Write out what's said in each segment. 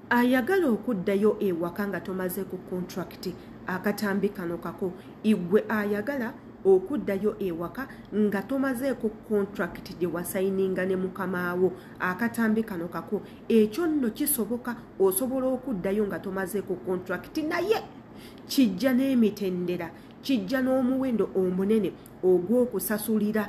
ayagala okuddayo ewaka nga tomaze ku kontrakiti akatambi kano kako igwe ayagala okuddayo ewaka nga tomazeeko kontrakiti gye wasayininga ne mukamaawo akatambi kano kako ekyo nno kisoboka osobola okuddayo nga tomazeeko kontrakiti naye kijja n'emitendera kijja n'omuwendo omunene ogw'okusasulira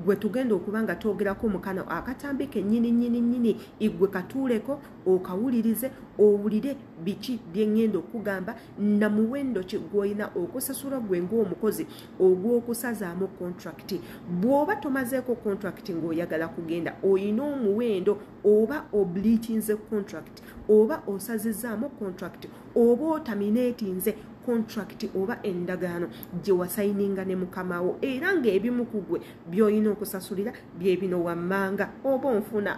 gwe tugenda okuba nga twogerako mu kano akatambi kennyini nnyini nnyini igwe katuuleko okawulirize owulire biki byeŋŋenda okugamba na muwendo ki gw'olina okusasula gwe ng'omukozi ogw'okusazaamu kontrakiti bw'oba tomazeeko kontrakiti ng'oyagala kugenda olina omuwendo oba obliitinze kontrakiti oba osazizaamu contract oba otamineetinze contract oba endagaano gye wasayininga ne mukamawo era ng'ebimu ku gwe by'olina okusasulira bye bino wammanga oba onfuna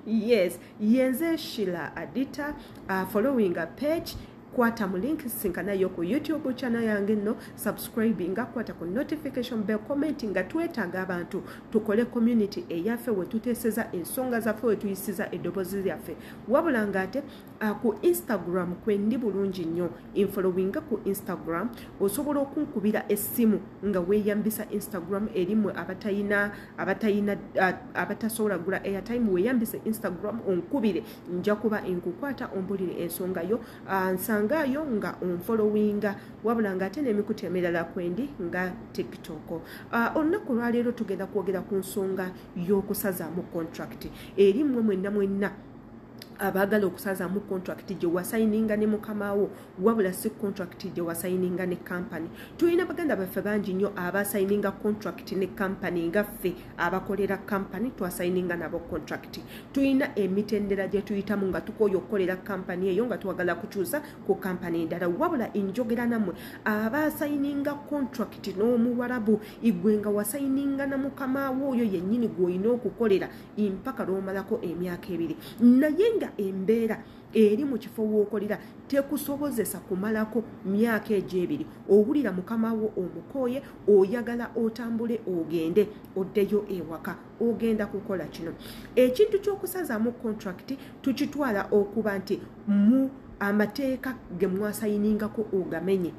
yes yenze shila adita uh, following a page kwata mu link sisinkana yo ku youtube channel yange nno subscribinga kwata ku notification bell commenti nga twetaaga abantu tukole community eyaffe wetuteeseza ensonga zaffe wetuyisiza eddobozi lyaffe wabula nga ate ah, ku instagram kwendi bulungi nnyo infollowinga ku instagram osobola okunkubira essimu nga weyambisa instagram erimwe abatayina abatayina ah, abatasobola gula airtime weyambise instagram onkubire nja kuba nkukwata ombulire ensonga yo ah, nsangaayo nga onfolowinga wabula ngaate nemikutu emirala kwendi nga tiktok ah, olunaku lwaleero tugenda kwogera ku nsonga y'okusazaamu contract eri mmwe mwenna mwenna abaagala okusazaamu contract gye wasayininga ne mukama wo wabula si contract gye wasayininga ne kampani tulina baganda baffe bangi nnyo abasayininga contract ne kampani nga ffe abakolera kampani twasayininga nabo contract tulina emitendera gye tuyitamu nga tukooya okukolera kampani eyo nga twagala kukyusa ku kampani endala wabula enjogera nammwe abasayininga contract n'omuwarabu igwe nga wasayininga na mukamaawo oyo yennyini gw'olina okukolera impaka lw'omalako emyaka ebiri naye nga embeera eri mu kifo w'okolera tekusobozesa kumalako myaka egyo ebiri owulira mukama wo omukooye oyagala otambule ogende oddeyo ewaka ogenda kukola kino ekintu ky'okusazaamu kontrakiti tukitwala okuba nti mu amateeka ge mwasayiningako ogamenye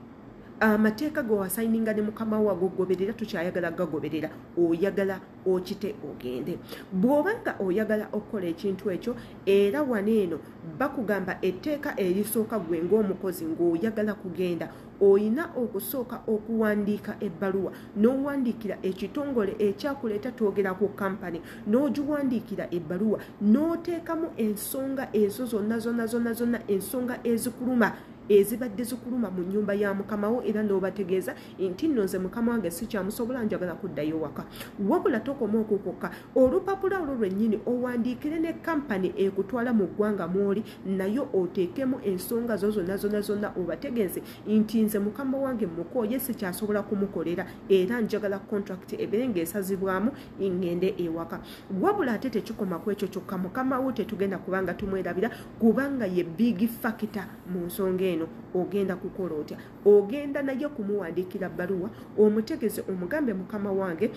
amateeka ge wasayininga ne mukama wo agogoberera tukyayagala gagoberera oyagala okite ogende bw'oba nga oyagala okukola ekintu ekyo era wano eno bakugamba etteeka erisooka gwe ng'omukozi ng'oyagala kugenda olina okusooka okuwandiika ebbaluwa n'owandiikira ekitongole ekyakuleeta twogera ku kampani n'ogiwandiikira ebbaluwa n'oteekamu ensonga ezo zonna zonna zonna zonna ensonga ezikuluma ezibadde zikuluma mu nnyumba ya mukamawo era n'obategeeza nti nno nze mukama wange sikyamusobola njagala kuddayo waka wabula tokoma okwo kwokka olupapula olwo lwennyini owandiikire ne kampani ekutwala mu ggwanga mwoli nayo oteekemu ensonga zo zonna zonna zonna obategeeze nti nze mukama wange mukooye sikyasobola kumukolera era njagala kontrakiti ebeere ng'esazibwamu ngende ewaka wabula ate tekikoma ku ekyo kyokka mukama wo tetugenda kubanga tumwerabira kubanga ye biigi fakita mu nsonga eno ogenda kukola otya ogenda naye okumuwandiikira bbaluwa omutegeze omugambe mukama wange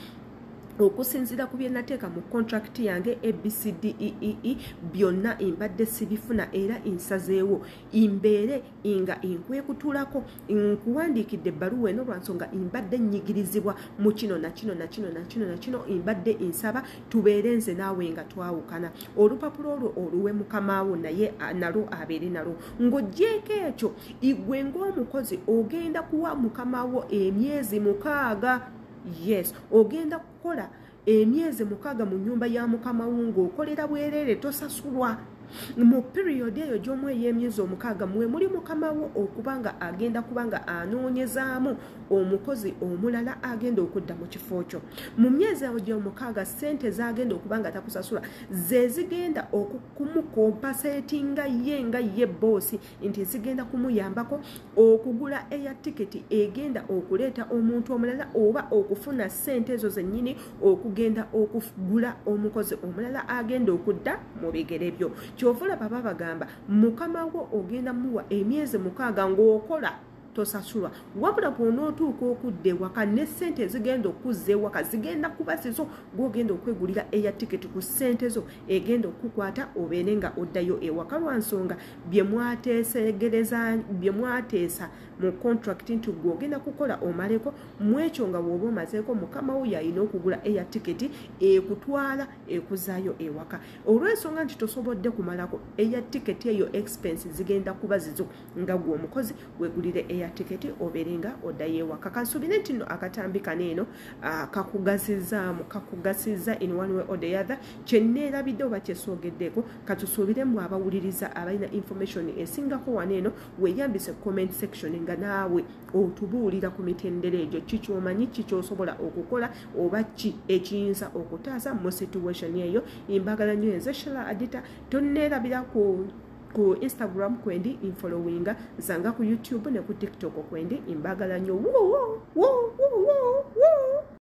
okusinziira ku byenateeka mu kontrakiti yange abcdee e e, byonna mbadde sibifuna era nsazeewo mbeere nga nkwekutulako nkuwandiikidde ebbaluwa eno lwansonga mbadde nnyigirizibwa mu kino nakino nakino nakino nakino mbadde nsaba tubeere nze naawe nga twawukana olupapula olwo oluwe mukamaawo naye nalwo abeere nalwo ng'ogyeko ekyo igwe ng'omukozi ogenda kuwa mukama wo emyezi mukaaga yes ogenda kukola emyezi mukaaga mu nyumba ya mukama wo ng'okolera bwereere tosasulwa mu piriyodi eyo gy'omu ey'emyezi omukaaga mwe muli mukama wo okuba nga agenda kuba nga anoonyezaamu omukozi omulala agenda okudda mu kifo kyo mu myezi awo gy'omukaaga ssente zagenda okuba nga takusasula ze zigenda oku kumukompasetinga ye nga ye boosi nti zigenda kumuyambako okugula eya tiketi egenda okuleeta omuntu omulala oba okufuna ssente ezo zennyini okugenda okugula omukozi omulala agenda okudda mu bigere byo kyovula baba bagamba mukama wo ogenda muwa emyezi mukaaga ng'okola tosasulwa wabula bw'onootuuka okudda ewaka ne ssente ezigenda okuzza ewaka zigenda kuba zizo gw'ogenda okwegulira eya tiketi ku ssente zo egenda okukukwata obeere nga oddayo ewaka lwa nsonga bye mwateesegereza bye mwateesa mu kontrakiti nti gwe ogenda kukola omaleko mu ekyo nga wooba omazeeko mukama wo yalina okugula eya tiketi ekutwala ekuzaayo ewaka olw'ensonga nti tosobodde kumalako eya tiketi eyo expense zigenda kuba zizo nga gwe omukozi wegulire eya tiketi obeere nga oddayo ewaka kansuubire nti no akatambi kano eno kakugazizaamu kakugasiza in one way or the other kyenneerabidde oba kyesoogeddeeko katusuubire mu abawuliriza abalina information esingako wano eno weyambise comment section nga naawe otubuulira ku mitendera egyo kikyomanyi kikyosobola okukola oba ki ekiyinza okutaasa mu situation eyo imbagala nyo enze shela adita tonneerabira ku ku instagram kwendi infollowinga nsanga ku youtube ne ku tiktok kwendi imbagala nyo woo, woo, woo, woo, woo.